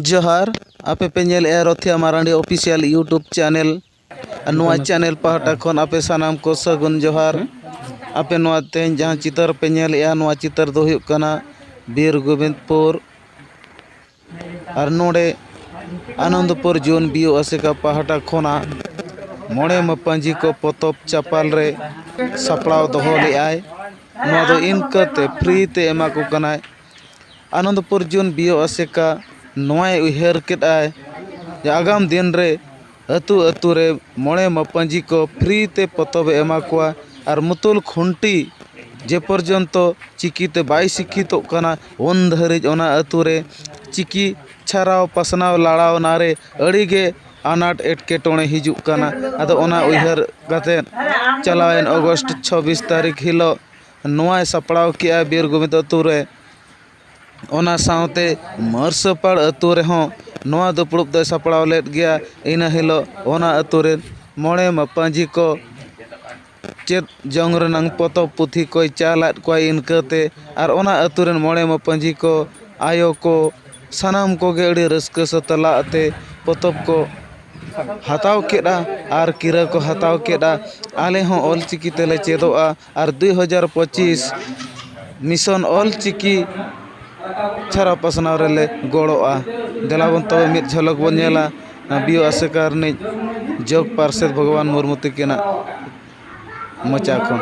ᱡᱚᱦᱟᱨ ᱟᱯᱮ ᱯᱮ ᱧᱮᱞᱮᱫᱼᱟ Rothia Marandi official YouTube channel ᱟᱨ ᱱᱚᱣᱟ ᱪᱮᱱᱮᱞ ᱯᱟᱦᱴᱟ ᱠᱷᱚᱱ ᱟᱯᱮ ᱥᱟᱱᱟᱢ ᱠᱚ ᱥᱟᱹᱜᱩᱱ ᱡᱚᱦᱟᱨ ᱟᱯᱮ ᱱᱚᱣᱟ ᱛᱮᱦᱮᱧ ᱡᱟᱦᱟᱸ ᱪᱤᱛᱟᱹᱨ ᱯᱮ ᱧᱮᱞᱮᱫᱼᱟ ᱱᱚᱣᱟ ᱪᱤᱛᱟᱹᱨ ᱫᱚ ᱦᱩᱭᱩᱜ ᱠᱟᱱᱟ ᱵᱤᱨ ᱜᱳᱵᱤᱱᱫᱽᱯᱩᱨ ᱟᱨ ᱱᱚᱰᱮ ᱟᱱᱚᱱᱫᱽᱯᱩᱨ ᱡᱳᱱ ᱵᱤ ᱳ ᱟᱥᱮᱠᱟ ᱯᱟᱦᱴᱟ ᱠᱷᱚᱱᱟᱜ ᱢᱚᱬᱮ ᱢᱟᱯᱟᱡᱤ ᱠᱚ ᱯᱚᱛᱚᱵ ᱪᱟᱯᱟᱞ ᱨᱮ ᱥᱟᱯᱲᱟᱣ ᱫᱚᱦᱚ ᱞᱮᱫᱼᱟᱭ ᱱᱚᱣᱟ ᱫᱚ ᱤᱱᱠᱟᱹ ᱛᱮ ᱯᱷᱨᱤ ᱛᱮ ᱮᱢᱟ ᱠᱚ ᱠᱟᱱᱟᱭ ᱟᱱᱚᱱᱫᱽᱯᱩᱨ ᱡᱩᱱ ᱵᱤ ᱳ ᱟᱥᱮᱠᱟ ᱱᱚᱣᱟᱭ ᱩᱭᱦᱟᱹᱨ ᱠᱮᱫᱟᱭ ᱡᱮ ᱟᱜᱟᱢ ᱫᱤᱱ ᱨᱮ ᱟᱹᱛᱩ ᱟᱹᱛᱩ ᱨᱮ ᱢᱚᱬᱮ ᱢᱟᱯᱟᱹᱡᱤ ᱠᱚ ᱯᱷᱨᱤ ᱛᱮ ᱯᱚᱛᱚᱵ ᱮ ᱮᱢᱟ ᱠᱚᱣᱟ ᱟᱨ ᱢᱩᱛᱩᱞ ᱠᱷᱩᱱᱴᱤ ᱡᱮ ᱯᱚᱨᱡᱚᱱᱛᱚ ᱪᱤᱠᱤ ᱛᱮ ᱵᱟᱭ ᱥᱤᱠᱠᱷᱤᱛᱚᱜ ᱠᱟᱱᱟ ᱩᱱ ᱫᱷᱟᱹᱨᱤᱡ ᱚᱱᱟ ᱟᱹᱛᱩ ᱨᱮ ᱪᱤᱠᱤ ᱪᱷᱟᱨᱟᱣ ᱯᱟᱥᱱᱟᱣ ᱞᱟᱲᱟᱣ ᱚᱱᱟ ᱨᱮ ᱟᱹᱰᱤ ᱜᱮ ᱟᱱᱟᱴ ᱮᱴᱠᱮᱴᱚᱬᱮ ᱦᱤᱡᱩᱜ ᱠᱟᱱᱟ ᱟᱫᱚ ᱚᱱᱟ ᱩᱭᱦᱟᱹᱨ ᱠᱟᱛᱮᱫ ᱪᱟᱞᱟᱣᱮᱱ ᱚᱜᱚᱥᱴ ᱪᱷᱟᱵᱵᱤᱥ ᱛᱟᱹᱨᱤᱠᱷ ᱦᱤᱞᱳᱜ ᱱᱚᱣᱟᱭ ᱥᱟᱯᱲᱟᱣ ᱠᱮᱜᱼᱟ ᱵᱤᱨ ᱜᱳᱵᱤᱱᱫᱽ ᱟᱛᱳ ᱨᱮ ᱚᱱᱟ ᱥᱟᱶᱛᱮ ᱢᱟᱹᱨᱥᱟᱹᱯᱟᱲ ᱟᱛᱳ ᱨᱮᱦᱚᱸ ᱱᱚᱣᱟ ᱫᱩᱯᱲᱩᱵ ᱫᱚᱭ ᱥᱟᱯᱲᱟᱣ ᱞᱮᱫ ᱜᱮᱭᱟ ᱤᱱᱟᱹ ᱦᱤᱞᱳᱜ ᱚᱱᱟ ᱟᱛᱳ ᱨᱮᱱ ᱢᱚᱬᱮ ᱢᱟᱯᱟᱡᱤ ᱠᱚ ᱪᱮᱫ ᱡᱚᱝ ᱨᱮᱱᱟᱝ ᱯᱚᱛᱚᱵ ᱯᱩᱛᱷᱤ ᱠᱚᱭ ᱪᱟᱞ ᱟᱫ ᱠᱚᱣᱟᱭ ᱤᱱᱠᱟᱹ ᱛᱮ ᱟᱨ ᱚᱱᱟ ᱟᱛᱳ ᱨᱮᱱ ᱢᱚᱬᱮ ᱢᱟᱯᱟᱡᱤ ᱠᱚ ᱟᱭᱳ ᱠᱚ ᱥᱟᱱᱟᱢ ᱠᱚᱜᱮ ᱟᱹᱰᱤ ᱨᱟᱹᱥᱠᱟᱹ ᱥᱟᱛᱞᱟᱜ ᱛᱮ ᱯᱚᱛᱚᱵ ᱠᱚ ᱦᱟᱛᱟᱣ ᱠᱮᱫᱼᱟ ᱟᱨ ᱠᱤᱨᱟᱹ ᱠᱚ ᱦᱟᱛᱟᱣ ᱠᱮᱫᱼᱟ ᱟᱞᱮ ᱦᱚᱸ ᱚᱞ ᱪᱤᱠᱤ ᱛᱮᱞᱮ ᱪᱮᱫᱚᱜᱼᱟ ᱟᱨ ᱫᱩ ᱦᱟᱡᱟᱨ ᱯᱚᱸᱪᱤᱥ ᱢᱤᱥᱚᱱ ᱚᱞ ᱪᱤᱠᱤ ᱪᱷᱟᱨᱟᱣ ᱯᱟᱥᱱᱟᱣ ᱨᱮᱞᱮ ᱜᱚᱲᱚᱜᱼᱟ ᱫᱮᱞᱟ ᱵᱚᱱ ᱛᱚᱵᱮ ᱢᱤᱫ ᱡᱷᱚᱞᱚᱠ ᱵᱚᱱ ᱧᱮᱞᱟ ᱵᱤᱭᱳ ᱟᱥᱮᱠᱟ ᱨᱤᱱᱤᱡ ᱡᱚᱜᱽ ᱯᱟᱨᱥᱮᱛ ᱵᱷᱚᱜᱚᱵᱟᱱ ᱢᱩᱨᱢᱩ ᱛᱟᱹᱠᱤᱱᱟᱜ ᱢᱚᱪᱟ ᱠᱷᱚᱱ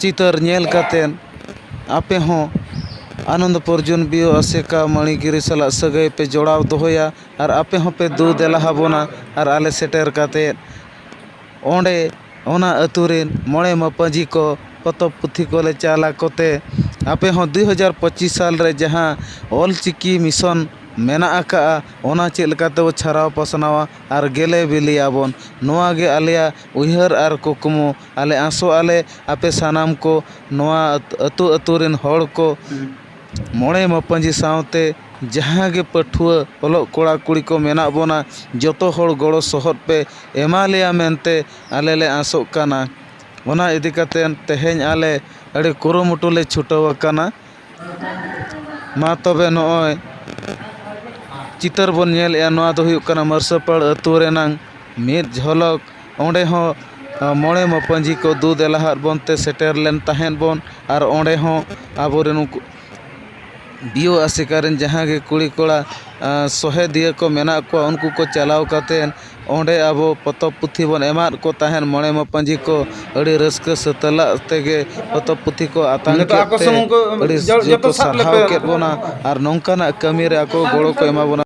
ᱪᱤᱛᱟᱹᱨ ᱧᱮᱞ ᱠᱟᱛᱮᱫ ᱟᱯᱮ ᱦᱚᱸ ᱟᱱᱚᱱᱫᱚ ᱯᱚᱨᱡᱚᱱ ᱵᱤᱭᱳ ᱟᱥᱮᱠᱟ ᱢᱟᱹᱬᱤ ᱜᱤᱨᱤ ᱥᱟᱞᱟᱜ ᱥᱟᱹᱜᱟᱹᱭ ᱯᱮ ᱡᱚᱲᱟᱣ ᱫᱚᱦᱚᱭᱟ ᱟᱨ ᱟᱯᱮ ᱦᱚᱸᱯᱮ ᱫᱩ ᱫᱮᱞᱟ ᱟᱵᱚᱱᱟ ᱟᱨ ᱟᱞᱮ ᱥᱮᱴᱮᱨ ᱠᱟᱛᱮᱫ ᱚᱸᱰᱮ ᱚᱱᱟ ᱟᱹᱛᱩ ᱨᱮᱱ ᱢᱚᱬᱮ ᱢᱟᱯᱟᱹᱡᱤ ᱠᱚ ᱯᱚᱛᱚᱵ ᱯᱩᱛᱷᱤ ᱠᱚᱞᱮ ᱪᱟᱞ ᱟᱠᱚ ᱛᱮ ᱟᱯᱮ ᱦᱚᱸ ᱫᱩ ᱦᱟᱡᱟᱨ ᱯᱚᱸᱪᱤᱥ ᱥᱟᱞ ᱨᱮ ᱡᱟᱦᱟᱸ ᱚᱞ ᱪᱤᱠᱤ ᱢᱤᱥᱚᱱ ᱢᱮᱱᱟᱜ ᱟᱠᱟᱫᱼᱟ ᱚᱱᱟ ᱪᱮᱫ ᱞᱮᱠᱟ ᱛᱮᱵᱚᱱ ᱪᱷᱟᱨᱟᱣ ᱯᱟᱥᱱᱟᱣᱟ ᱟᱨ ᱜᱮᱞᱮ ᱵᱤᱞᱤᱭᱟᱵᱚᱱ ᱱᱚᱣᱟ ᱜᱮ ᱟᱞᱮᱭᱟᱜ ᱩᱭᱦᱟᱹᱨ ᱟᱨ ᱠᱩᱠᱢᱩ ᱟᱞᱮ ᱟᱥᱚᱜ ᱟᱞᱮ ᱟᱯᱮ ᱥᱟᱱᱟᱢ ᱠᱚ ᱱᱚᱣᱟ ᱟᱹᱛᱩ ᱟᱹᱛᱩ ᱨᱮᱱ ᱦᱚᱲ ᱠᱚ ᱢᱚᱬᱮ ᱢᱟᱯᱟᱹᱡᱤ ᱥᱟᱶᱛᱮ ᱡᱟᱦᱟᱸ ᱜᱮ ᱯᱟᱹᱴᱷᱩᱣᱟᱹ ᱚᱞᱚᱜ ᱠᱚᱲᱟ ᱠᱩᱲᱤ ᱠᱚ ᱢᱮᱱᱟᱜ ᱵᱚᱱᱟ ᱡᱚᱛᱚ ᱦᱚᱲ ᱜᱚᱲᱚ ᱥᱚᱦᱚᱫ ᱯᱮ ᱮᱢᱟ ᱞᱮᱭᱟ ᱢᱮᱱᱛᱮ ᱟᱞᱮ ᱞᱮ ᱟᱥᱚᱜ ᱠᱟᱱᱟ ᱚᱱᱟ ᱤᱫᱤ ᱠᱟᱛᱮᱫ ᱛᱮᱦᱮᱧ ᱟᱞᱮ ᱟᱹᱰᱤ ᱠᱩᱨᱩᱢᱩᱴᱩ ᱞᱮ ᱪᱷᱩᱴᱟᱹᱣ ᱟᱠᱟᱱᱟ ᱢᱟ ᱛᱚᱵᱮ ᱱᱚᱜᱼᱚᱭ ᱪᱤᱛᱟᱹᱨ ᱵᱚᱱ ᱧᱮᱞᱮᱜᱼᱟ ᱱᱚᱣᱟ ᱫᱚ ᱦᱩᱭᱩᱜ ᱠᱟᱱᱟ ᱢᱟᱹᱨᱥᱟᱹᱯᱟᱲ ᱟᱛᱳ ᱨᱮᱱᱟᱝ ᱢᱤᱫ ᱡᱷᱚᱞᱚᱠ ᱚᱸᱰᱮ ᱦᱚᱸ ᱢᱚᱬᱮ ᱢᱟᱯᱟᱹᱡᱤ ᱠᱚ ᱫᱩ ᱫᱮᱞᱟ ᱟᱫ ᱵᱚᱱ ᱛᱮ ᱥᱮᱴᱮᱨ ᱞᱮᱱ ᱛᱟᱦᱮᱸᱜ ᱵᱚᱱ ᱟᱨ ᱚᱸᱰᱮ ᱦᱚᱸ ᱟᱵᱚ ᱨᱮᱱ ᱩᱱᱠᱩ ᱫᱤᱭᱳ ᱟᱥᱮᱠᱟ ᱨᱮᱱ ᱡᱟᱦᱟᱸ ᱜᱮ ᱠᱩᱲᱤᱼᱠᱚᱲᱟ ᱥᱚᱦᱮᱫᱤᱭᱟᱹ ᱠᱚ ᱢᱮᱱᱟᱜ ᱠᱚᱣᱟ ᱩᱱᱠᱩ ᱠᱚ ᱪᱟᱞᱟᱣ ᱠᱟᱛᱮ ᱚᱸᱰᱮ ᱟᱵᱚ ᱯᱚᱛᱚᱵ ᱯᱩᱛᱷᱤ ᱵᱚᱱ ᱮᱢᱟᱫ ᱠᱚ ᱛᱟᱦᱮᱸᱫ ᱢᱚᱬᱮ ᱢᱟᱯᱟᱹᱡᱤ ᱠᱚ ᱟᱹᱰᱤ ᱨᱟᱹᱥᱠᱟᱹ ᱥᱟᱹᱛᱞᱟᱜ ᱛᱮᱜᱮ ᱯᱚᱛᱚᱵ ᱯᱩᱛᱷᱤ ᱠᱚ ᱟᱛᱟᱝ ᱠᱮᱫ ᱛᱮ ᱟᱹᱰᱤ ᱡᱳᱨ ᱠᱚ ᱥᱟᱨᱦᱟᱣ ᱠᱮᱫ ᱵᱚᱱᱟ ᱟᱨ ᱱᱚᱝᱠᱟᱱᱟᱜ ᱠᱟᱹᱢᱤᱨᱮ ᱟᱠᱚ ᱜᱚᱲᱚ ᱠᱚ ᱮᱢᱟ ᱵᱚᱱᱟ